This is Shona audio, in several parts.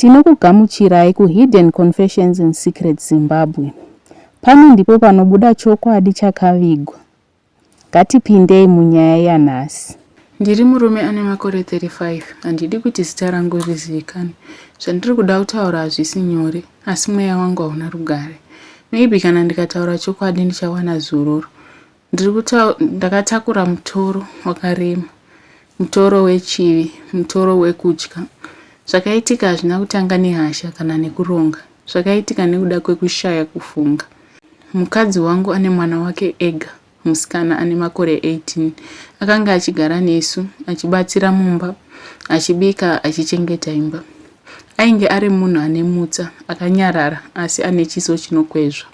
Tinokugamuchirai ku Hidden Confessions and Secrets Zimbabwe. Pano ndipo panobuda chokwadi chakavigwa. Ngatipindei munyaya yanhasi. Ndiri murume ane makore 35. Handidi kuti zita rangu rizivikanwe. Zvandiri kuda kutaura hazvisi nyore, asi mweya wangu hauna rugare. Maybe kana ndikataura chokwadi ndichawana zororo. Ndiri kutaura ndakatakura mutoro wakarema, mutoro wechivi, mutoro wekutya. Zvakaitika hazvina kutanga nehasha kana nekuronga. Zvakaitika nekuda kwekushaya kufunga. Mukadzi wangu ane mwana wake ega, musikana ane makore 18. Akanga achigara nesu, achibatsira mumba, achibika, achichengeta imba. Ainge ari munhu ane mutsa, akanyarara, asi ane chiso chinokwezva.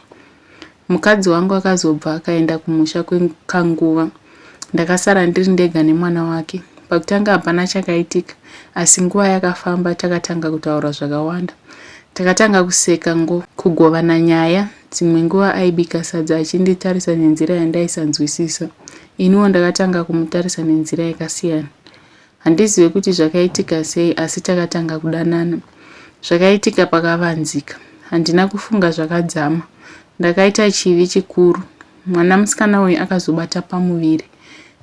Mukadzi wangu akazobva akaenda kumusha kwekanguva ndakasara ndiri ndega nemwana wake. Pakutanga hapana chakaitika asi nguva yakafamba takatanga kutaura zvakawanda. Takatanga kuseka ngo kugovana nyaya, dzimwe nguva aibika sadza achinditarisa nenzira yandaisanzwisisa. Iniwo ndakatanga kumutarisa nenzira yakasiyana. Handizive kuti zvakaitika sei asi takatanga kudanana. Zvakaitika pakavanzika. Handina kufunga zvakadzama. Ndakaita chivi chikuru. Mwana musikana uyu akazobata pamuviri.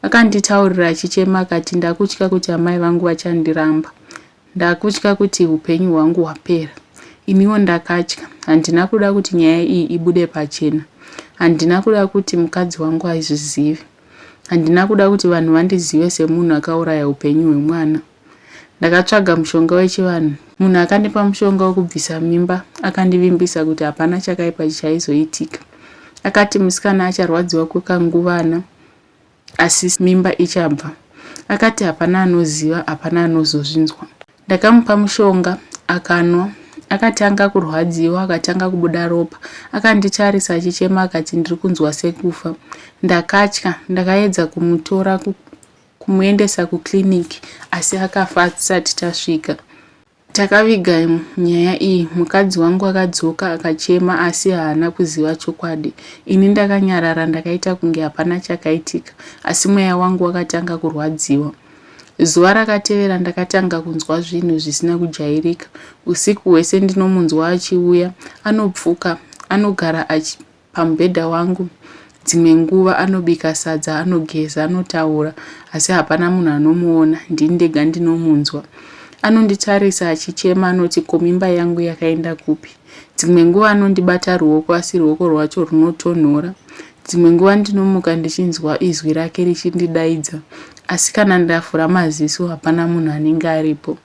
Akanditaurira achichema akati ndakutya kuti amai vangu vachandiramba. Ndakutya kuti upenyu hwangu hwapera. Iniwo ndakatya. Handina kuda kuti nyaya iyi ibude pachena. Handina kuda kuti mukadzi wangu aizvizive. Handina kuda kuti vanhu vandizive semunhu akauraya hupenyu hwemwana. Ndakatsvaga mushonga wechivanhu. Munhu akandipa mushonga wekubvisa mimba akandivimbisa kuti hapana chakaipa chichaizoitika. Akati musikana acharwadziwa kwekanguvana asi mimba ichabva. Akati hapana anoziva, hapana anozozvinzwa. Ndakamupa mushonga akanwa akatanga kurwadziwa akatanga kubuda ropa akanditarisa achichema akati ndiri kunzwa sekufa ndakatya ndakaedza kumutora kumuendesa kuclinic asi akafa atisati tasvika takaviga nyaya iyi mukadzi wangu akadzoka akachema asi haana kuziva chokwadi ini ndakanyarara ndakaita kunge hapana chakaitika asi mweya wangu wakatanga kurwadziwa Zuva rakatevera ndakatanga kunzwa zvinhu zvisina kujairika. Usiku hwese ndinomunzwa achiuya, anopfuka, anogara achi, pamubhedha wangu. Dzimwe nguva anobika sadza, anogeza, anotaura, asi hapana munhu anomuona, ndini ndega ndinomunzwa. Anonditarisa achichema anoti ko mimba yangu yakaenda kupi? Dzimwe nguva anondibata ruoko asi ruoko rwacho runotonhora. Dzimwe nguva ndinomuka ndichinzwa izwi rake richindidaidza asi kana ndavhura maziso hapana munhu anenge aripo.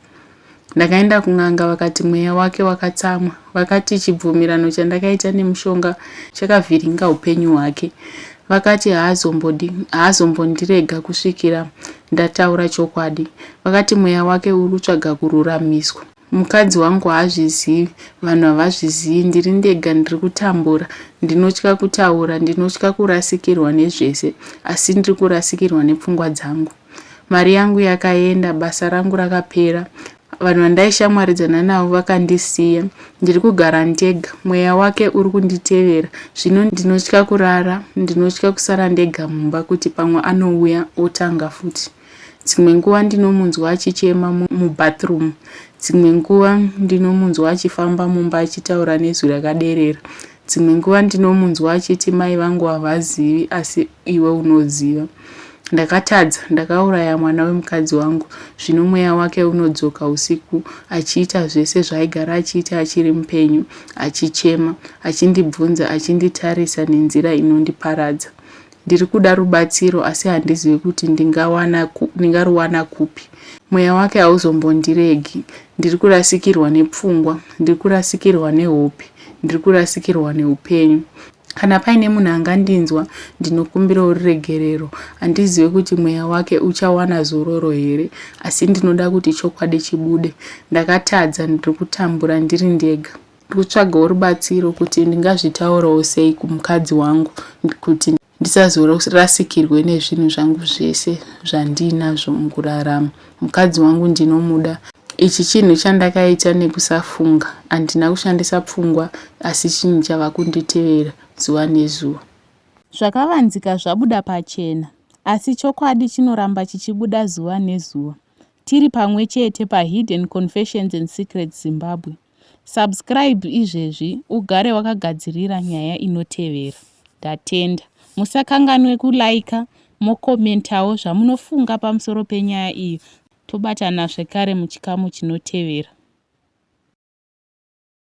Ndakaenda kun'anga vakati mweya wake wakatsamwa. Vakati chibvumirano chandakaita nemushonga chakavhiringa upenyu hwake. Vakati haazombodi haazombondirega kusvikira ndataura chokwadi. Vakati mweya wake uri kutsvaga kururamiswa. Mukadzi wangu haazvizivi, vanhu havazvizivi, ndiri ndega ndiri kutambura. Ndinotya kutaura, ndinotya kurasikirwa nezvese, asi ndiri kurasikirwa nepfungwa dzangu. Mari yangu yakaenda, basa rangu rakapera, vanhu vandaishamwaridzana navo vakandisiya, ndiri kugara ndega, mweya wake uri kunditevera. Zvino ndinotya kurara, ndinotya kusara ndega mumba kuti pamwe anouya otanga futi. Dzimwe nguva ndinomunzwa achichema mubathroom. Dzimwe nguva ndinomunzwa achifamba mumba achitaura nezwi rakaderera. Dzimwe nguva ndinomunzwa achiti mai vangu havazivi asi iwe unoziva. Ndakatadza, ndakauraya mwana wemukadzi wangu. Zvino mweya wake unodzoka usiku achiita zvese zvaaigara achiita achiri mupenyu, achichema, achindibvunza, achinditarisa nenzira inondiparadza. Ndiri kuda rubatsiro asi handizivi kuti ndingawana ndingaruwana kupi. Mweya wake hauzombondiregi. Ndiri kurasikirwa nepfungwa, ndiri kurasikirwa nehope, ndiri kurasikirwa neupenyu. Kana paine munhu angandinzwa, ndinokumbirawo ruregerero. Handizive kuti mweya wake uchawana zororo here, asi ndinoda kuti chokwadi chibude. Ndakatadza, ndiri kutambura ndiri ndega. Ndikutsvagawo rubatsiro kuti ndingazvitaurawo sei kumukadzi wangu kuti ndisazorasikirwe nezvinhu zvangu zvese zvandiinazvo mukurarama. Mukadzi wangu ndinomuda. Ichi chinhu chandakaita nekusafunga. Handina kushandisa pfungwa asi chinhu chava kunditevera zuva nezuva. Zvakavanzika zvabuda pachena. Asi chokwadi chinoramba chichibuda zuva nezuva. Tiri pamwe chete paHidden Confessions and Secrets Zimbabwe. Subscribe izvezvi ugare wakagadzirira nyaya inotevera. Ndatenda. Musakanganwe kuliker mokomentawo zvamunofunga pamusoro penyaya iyo. Tobatana zvekare muchikamu chinotevera.